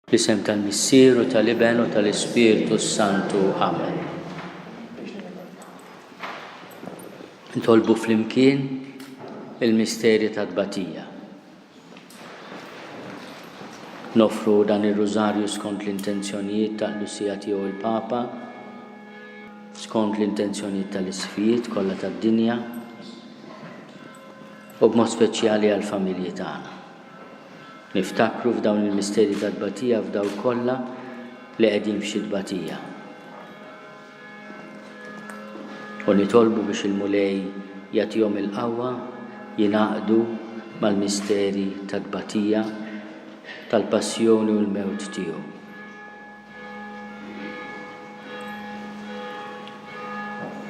Fl-isem tal-Missier u tal-Iben u tal-Ispirtu s-Santu. Amen. Ntolbu flimkien il-misteri ta' tbatija. Nofru dan ir-rużarju skont l-intenzjonijiet ta' Lusija tiegħu l-Papa, skont l-intenzjonijiet tal-isfijiet kollha tad-dinja u b'mod speċjali għall-familji tagħna. Niftakru f'dawn il-misteri ta' tbatija f'dawk kollha li qegħdin f'xi tbatija. U nitolbu biex il-Mulej jagħtihom il-qawwa jingħaqdu mal-misteri ta' tbatija tal-passjoni u l-mewt tiegħu.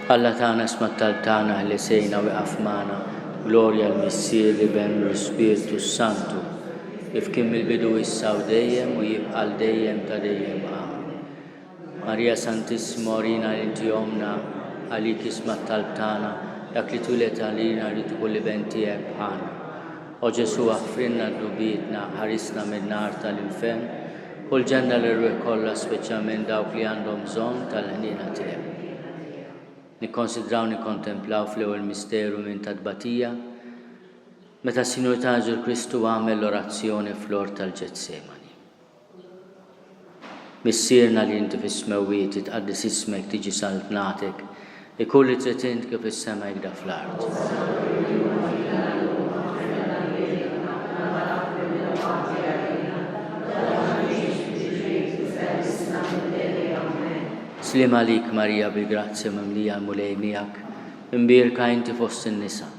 Alla tagħna smat tal tagħna ħlisejna wieqaf magħna, glorja l-Missier li ben u l-Spirtu s-Santu, kif kien mill-bidu issa u dejjem u jibqa' l dejjem ta' dejjem amen. Marija Santissima orina li inti omna, għalik ismat tal tagħna, dak li twilet għalina rrid ikun li ben tiegħek bħalna. O Ġesu aħfrinna d-dubietna, ħarisna minn nar tal-infern, Kull ġenna l-irwieħ kollha spiċċa minn dawk li għandhom bżonn tal-ħniena tiegħu. Nikkonsidraw nikkontemplaw fl-ewwel misteru minn ta' tbatija meta s-Sinjur ta' Ġesu Kristu għamel l-orazzjoni fl-ort tal-Ġetsemani. Missierna li inti fis-smewwiet tqaddis ismek tiġi saltnatek Ikun li trid int kif is-sema hekda fl-art. Slim għalik Marija bil-grazzja mimlija l-Mulej miegħek, imbierka inti fost in-nisa.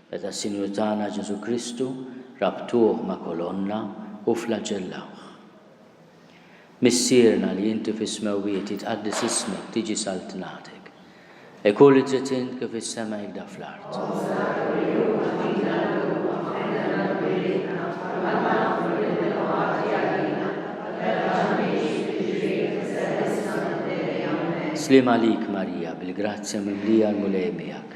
Meta s-Sinjur tagħna Ġesù Kristu rabtuh ma' kolonna u fflaġellawh. Missierna li inti fis-smewwiet jitqaddes ismek tiġi saltnatek. Ikun li trid int kif is-sema hekk da fl-art. Sliem għalik Marija bil-grazzja mimlija l-Mulej miegħek.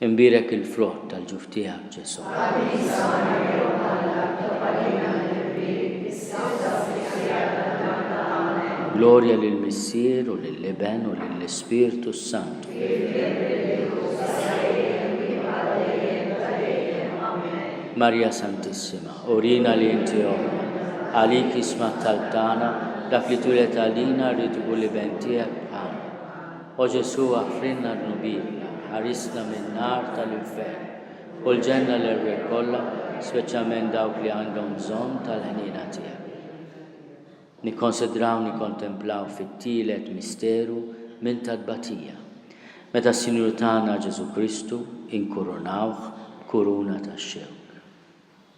Inbierek il-frott tal-ġuf tiegħek, Ġesù. Qaddisa Marija Omm Alla, tob għalina l-ħerrien, issa u sa' żmien qiegħed tad-darba. Amen. Glorja lill-Missier, u lill-Iben, u lill-Ispirtu s-Santu. Kif kien mill-bidu, sa sejjejjem, u jibqa' dejjem, ta' dejjem. Amen. Marija Santissima, urina li inti Ommna. Għalik jisma' t-talb tagħna, dak li twieled għalina rrid ikun l-Iben tiegħek bħalna. O Ġesù, aħfrilna dnubina, ħarisna min-nar tal-infern, u l-ġenna l-erwieħ kollha, speċjalment dawk li għandhom bżonn tal-ħniena tiegħek. Nikkonsidraw nikkontemplaw fit-tielet misteru minn tat-tbatija, meta s-Sinjur tagħna Ġesù Kristu inkurunawh b'kuruna tax-xewk.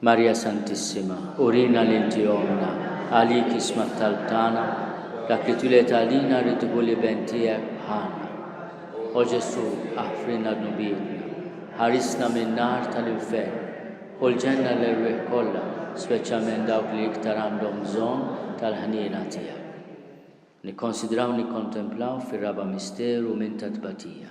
Marija Santissima, urina li inti ommna, għalik isma' t-talb tagħna, dak li twieled għalina rrid ikun l-Iben tiegħek bħalna. O Ġesù, aħfrilna dnubietna, ħarisna min-nar tal-infern, ħu l-ġenna l-erwieħ kollha, speċjalment dawk li iktar għandhom bżonn tal-ħniena tiegħek. Nikkonsidraw u nikkontemplaw fir-raba' misteru minn tat-tbatija.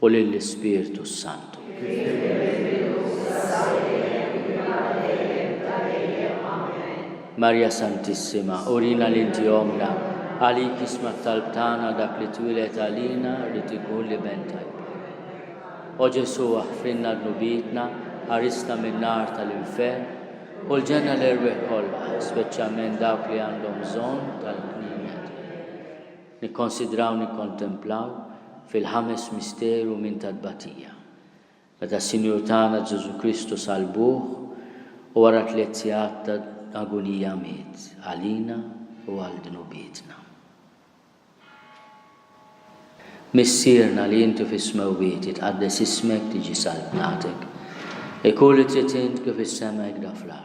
u lill-Ispirtu s-Santu. Kif kien fil-bidu, s'issa u dejjem, u jkun għal dejjem ta' dejjem. Amen. Marja Santissima, urina li inti ommna, għalik jisma' t-talb tagħna dak li twieled għalina rrid ikun l-Iben ta' Ibrahim. O Ġesù, aħfrilna dnubietna, ħarisna min-nar tal-infern, u l-ġenna l-erwieħ kollha, speċjalment dawk li għandhom bżonn tal-ħniena tiegħek. Nikkonsidraw, nikkontemplaw, fil-ħames misteru minn ta' tbatija. Meta s-Sinjur tagħna Ġesù Kristu salbuh u wara tliet sigħat ta' agunija miet għalina u għal dnubietna. Missierna li inti fis-smewwiet jitqaddes ismek tiġi saltnatek. Ikun li trid int kif is-sema hekk da fl-art.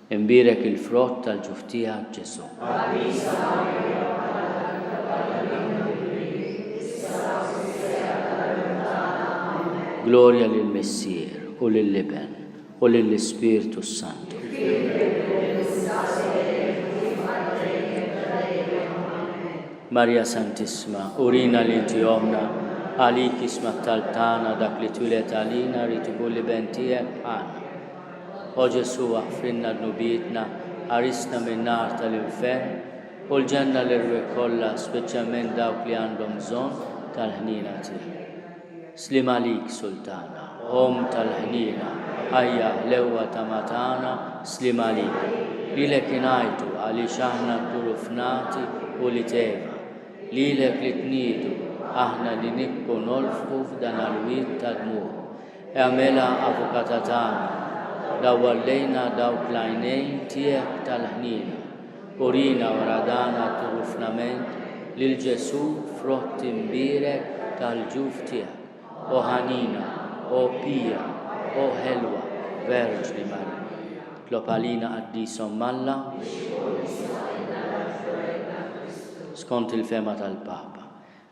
Imbierek il-frott tal-ġuf tiegħek, Ġesù. Qaddisa Marija, Mara tal-Iktar Barra li Aħna Mill-Qrib, issa u sa' fis-siegħa tal-għemil tagħna. Amen. Glorja lill-Missier, u lill-Iben, u lill-Ispirtu s-Santu. Kif kien fil-bidu, issa u se jkun, u jibqa' dejjem ta' dejjem. Amen. Marija Santissima, urina li inti ommna, għalik jisma' t-talb tagħna, dak li twieled għalina jrid ikun l-Iben tiegħek, Ħana. O Ġesù aħfrilna dnubietna, ħarisna min-nar tal-infern, u l-ġenna l-erwieħ kollha speċjalment dawk li għandhom bżonn tal-ħniena tiegħek. Sliem għalik Sultana, Omm tal-ħniena, ħajja, ħlewwa tama tagħna, sliem għalik. Lilek ingħajtu għaliex aħna nduru f'nati u liteva. Lilek li tniedu aħna li nibku nolfqu f'dan għal-wied tad-dmugħ. Agħmilha Avukata tagħna, dawwal lejna dawk l-għajnejn tiegħek tal-ħniena, urina wara dan għat-trufnament lil Ġesù frott imbierek tal-ġuf tiegħek, O ħanina, O pija, O ħelwa Verġni Marija. Tlob għalina Qaddisa Omm Alla biex tkun is-Sorella ta' Kristu. Skont il-fehma tal-Papa,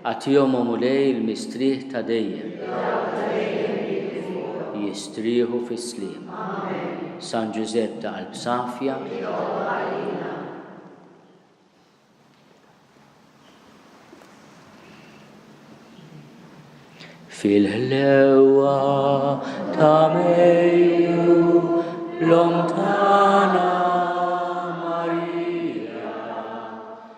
Agħtihomhom u lej il-mistrieħ ta' dejjem. Li dawk ta' dejjem jibqgħu fuqhom. Jistrieħu fis-sliem. Amen. San Ġużepp ta' qalb safja. Itlob għalina. Fil-ħlewa ta' Mejju, l-om tagħna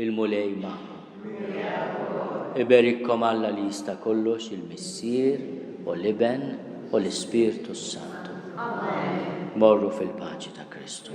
Il-Mulej magħkom. Iberikkom Alla li jista' kollox il-Missier u l-Iben u l-Ispirtu s-Santu. Morru fil-paċi ta' Kristu.